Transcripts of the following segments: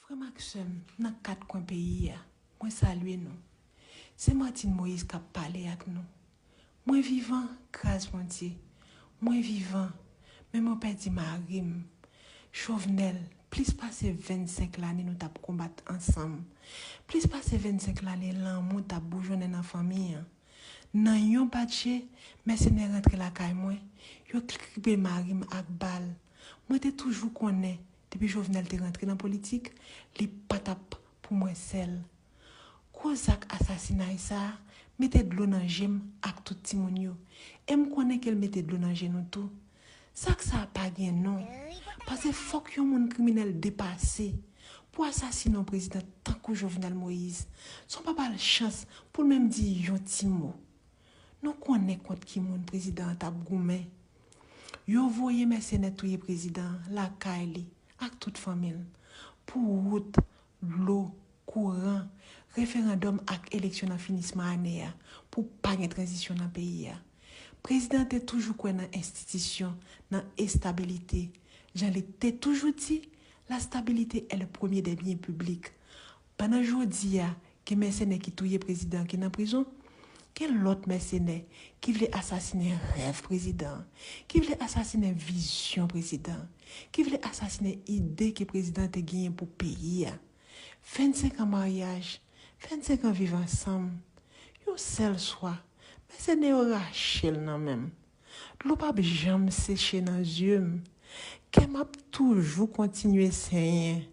Frè m ak sè m nan kat kwen peyi a, mwen salye nou. Se Martine Moïse k ap pale ak nou. Mwen vivan, gras Bondye. Mwen vivan, men mwen pèdi mari m. Chauvenel, plis pase 25 lane nou t ap konbat ansanm. Plis pase 25 lane lanmou t ap boujonnen nan fanmi an. Nan yon bat je, mèsenè rantre lakay mwen, yo kribe mari m ak bal. Mwen te toujou konnen Depi Jovenel te rantre nan politik, li pa t ap pou mwen sèl. Gwo zak asasinay sa a mete dlo nan je m ak tout timoun yo, e m konnen ke l mete dlo nan je nou tou. Zak sa a pa gen non, pase fòk yon moun kriminèl depase pou asasine yon prezidan tankou Jovenel Moïse, san w pa ba l chans pou l menm di yon ti mo. Nou konnen kont ki moun prezidan an t ap goumen. Yo voye mèsenè touye prezidan lakay li ak tout fanmi l pou wout, dlo, kouran, referandòm ak eleksyon nan finisman ane a pou pa gen tranzisyon nan peyi a. Prezidan te toujou kwè nan enstitisyon, nan estabilite. Jan li te toujou di, la stabilité est le premier des biens publics. Pandan jodi a, gen mèsenè ki touye prezidan an ki nan prizon, gen lòt mèsenè ki vle asasinen rèv prezidan an, ki vle asasinen vizyon prezidan an, ki vle asasinen ide ke prezidan an te genyen pou peyi a. 25 an maryaj, 25 an viv ansanm, yon sèl swa, mèsenè yo rache l nan men m. Dlo pap janm seche nan yeux m kè m ap toujou kontinye senyen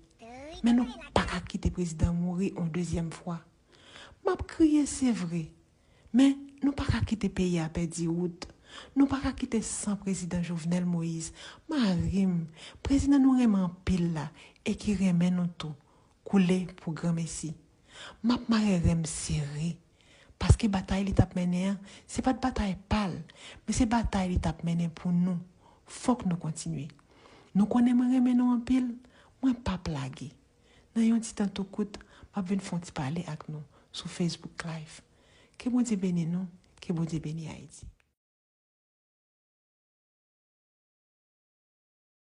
men nou paka kite prezidan mouri on dezyèm fwa m ap kriye se vre men nou paka kite peyi a pèdi wout nou paka kite san prezidan jovenel moïse mari m prezidan nou renmen anpil la e ki renmen nou tou koule pou granmesi. M ap mare ren m sere. Paske batay li t ap mennen an, se pa t batay pa l, men se batay li t ap mennen pou nou. Fòk nou kontinye. Nou konnen mwen renmen nou anpil, mwen p ap lage. Nan yon ti tan tou kout, m ap vin fè yon ti pale ak nou sou Facebook Live. Ke Bondye beni nou, ke Bondye beni Ayiti.